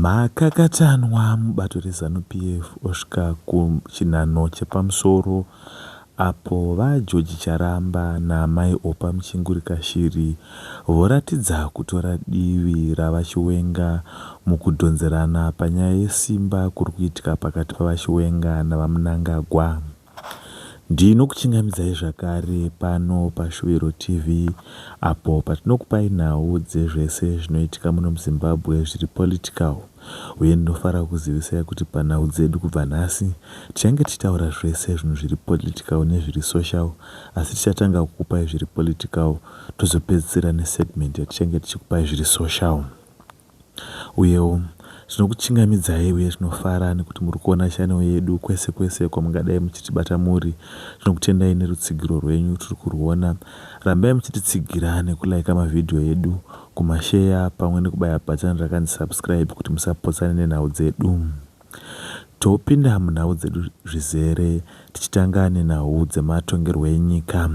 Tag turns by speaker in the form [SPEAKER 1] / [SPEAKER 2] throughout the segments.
[SPEAKER 1] Makakatanwa mubato reZanu PF osvika kuchinhanho chepamusoro apo VaGeorge Charamba naAmai Oppah Muchinguri-Kashiri voratidza kutora divi raVaChiwenga mukudhonzerana panyaya yesimba kuri kuitika pakati paVaChiwenga naVaMnangagwa. Ndinokuchingamidzai zvakare pano paShuviro TV apo patinokupai nhau dzezvese zvinoitika muno muZimbabwe zviri political uye ndinofara kukuzivisai kuti panhau dzedu kubva nhasi tichange tichitaura zvese zvinhu zviri political nezviri social asi tichatanga kukupai zviri political tozopedzisira nesegment yatichange tichikupai zviri social. Uyewo, zvinokuchingamidzai uye tinofara nekuti muri kuona chanel yedu kwese kwese kwamungadai muchitibata muri. Tinokutendai nerutsigiro rwenyu, tiri kurwuona. Rambai muchititsigira nekulaika mavhidhiyo edu, kumasheya pamwe nekubaya bhatani rakanzi subscribe kuti musapotsane nenhau dzedu. Topinda munhau dzedu zvizere tichitanga nenhau dzematongerwo enyika.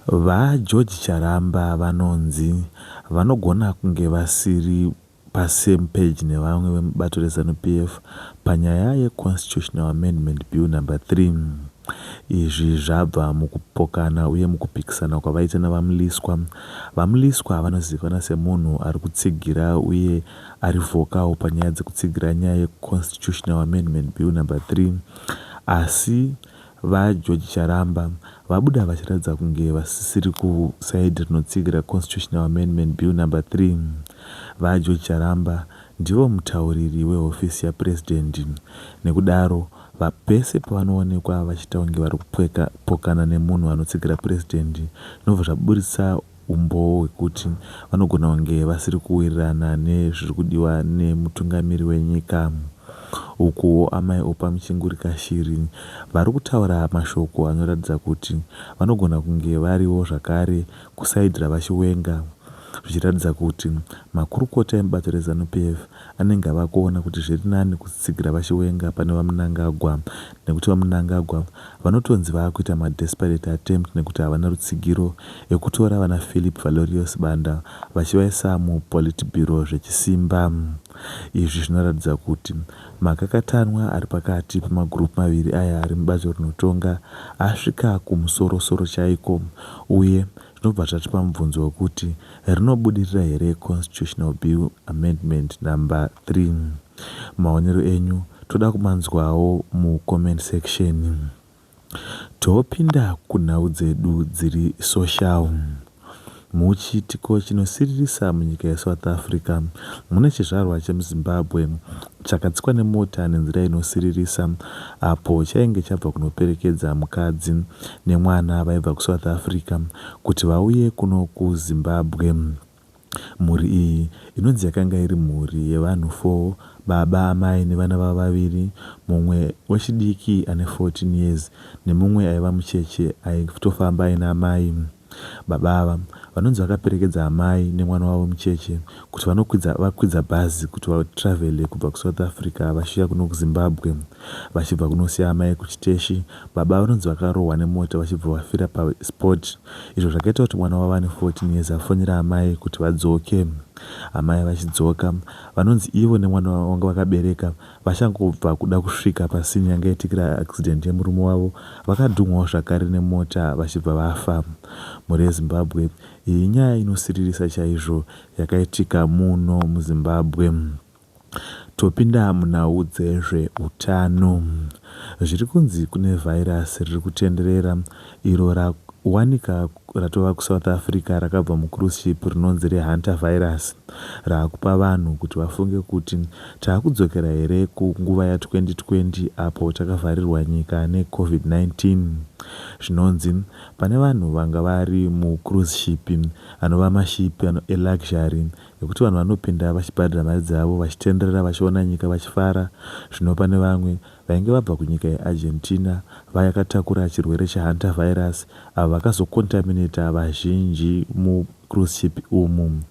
[SPEAKER 1] VaGeorge Charamba vanonzi vanogona kunge vasiri pa same page nevamwe vemubato reZanu PF panyaya ye Constitutional Amendment Bill Number 3. Izvi zvabva mukupokana uye mukupikisana kwavaita naVaMliswa. VaMliswa vanozivikanwa semunhu ari kutsigira uye ari vocal panyaya dzekutsigira nyaya ye Constitutional Amendment Bill Number 3 asi VaGeorge Charamba vabuda vachiratidza kunge vasisiri kuside rinotsigira Constitutional Amendment Bill Number 3. VaGeorge Charamba ndivo mutauriri wehofisi yaPresident nekudaro pese pavanoonekwa vachiita kunge vari kupokana nemunhu anotsigira President zvinobva zvaburitsa Umboo hwekuti vanogona kunge vasiri kuwirirana nezviri kudiwa nemutungamiri wenyika. Ukuwo Amai Oppah Muchinguri-Kashiri vari kutaura mashoko anoratidza kuti vanogona kunge variwo zvakare kuside raVaChiwenga zvichiratidza kuti makurukota emubato reZanu PF anenge ava kuona kuti zviri nani kutsigira vaChiwenga pane VaMnangagwa nekuti VaMnangagwa vanotonzi vava kuita madesperate attempt nekuti havana rutsigiro ekutora vana Phillip Valorious Banda vachivaisa muPolitburo zvechisimba. Izvi zvinoratidza kuti makakatanwa ari pakati pemagroup maviri aya ari mubato rinotonga asvika kumusoro-soro chaiko uye Tinobva tatipa mubvunzo wekuti rinobudirira here Constitutional Bill Amendment number 3. Maonero enyu toda kumanzwawo mu comment section. Topinda kunhau dzedu dziri social. Muchiitiko chinosiririsa munyika yeSouth Africa mune chizvarwa chemuZimbabwe chakatsikwa nemota nenzira inosiririsa apo chainge chabva kunoperekedza mukadzi nemwana vaibva kuSouth Africa kuti vauye kuno kuZimbabwe. Mhuri iyi inonzi yakanga iri mhuri yevanhu four, baba, amai nevana vavo vaviri, mumwe wechidiki ane 14 years nemumwe aiva mucheche aitofamba aina amai. Baba ava vanonzi vakaperekedza amai nemwana wavo mucheche kuti vanokwidza vakwidza bhazi kuti vatravele kubva kuSouth Africa vachiuya kuno kuZimbabwe vachibva kunosiya amai kuchiteshi. Baba vanonzi vakarohwa nemota vachibva vafira paspot izvo zvakaita kuti mwana wavo ane 14 years afonera amai kuti vadzoke. Amai vachidzoka, vanonzi ivo nemwana wavo vanga vakabereka Vachangobva kuda kusvika pasini yanga yaitikira accident yemurume wavo, vakadhumhawo zvakare nemota vachibva vafa. Mhuri yeZimbabwe, iyi inyaya inosiririsa chaizvo yakaitika muno muZimbabwe. Topinda munhau dzezveutano. Zviri kunzi kune virus riri kutenderera iro rawanika ratova kuSouth Africa rakabva mucruise ship rinonzi reHantavirus raakupa vanhu kuti vafunge kuti taakudzokera here kunguva ya 2020 apo takavharirwa nyika ne Covid 19. Zvinonzi pane vanhu vanga vari mucruise ship anova maship eluxury ekuti vanhu vanopinda vachibhadhara mari dzavo vachitenderera vachiona nyika vachifara zvino pane vamwe vainge vabva kunyika yeArgentina vayakatakura chirwere cheHantavirus avo vakazokontamineta vazhinji mucruise ship umu.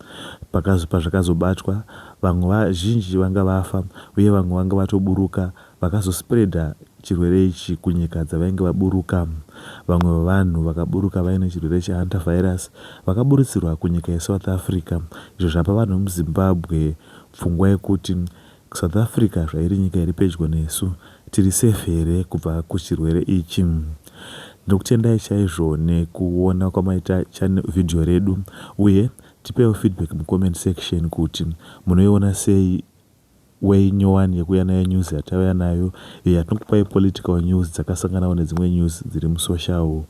[SPEAKER 1] Pakazo, pazvakazobatwa, vamwe vazhinji vanga vafa uye vamwe vanga vatoburuka vakazospreader chirwere ichi kunyika dzavainge vaburuka. Vamwe vevanhu vakaburuka vaine chirwere cheHantavirus vakaburitsirwa kunyika yeSouth Africa izvo zvapa vanhu vemuZimbabwe pfungwa yekuti South Africa zvairi nyika iri pedyo nesu tiri safe here kubva kuchirwere ichi. Ndinokutendai chaizvo nekuona kwamaita channel video redu uye tipeiwo feedback mucomment section kuti munoiona sei way nyowani yekuuya nayo news yatauya nayo iyo yatinokupai political news dzakasanganawo nedzimwe news dziri musocial.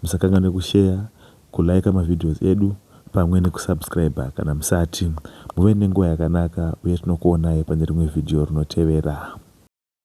[SPEAKER 1] Musakanganwe kusheya kuliker mavideos edu pamwe nekusubscriber kana musati. Muve nenguva yakanaka uye tinokuonai pane rimwe vhidhiyo rinotevera.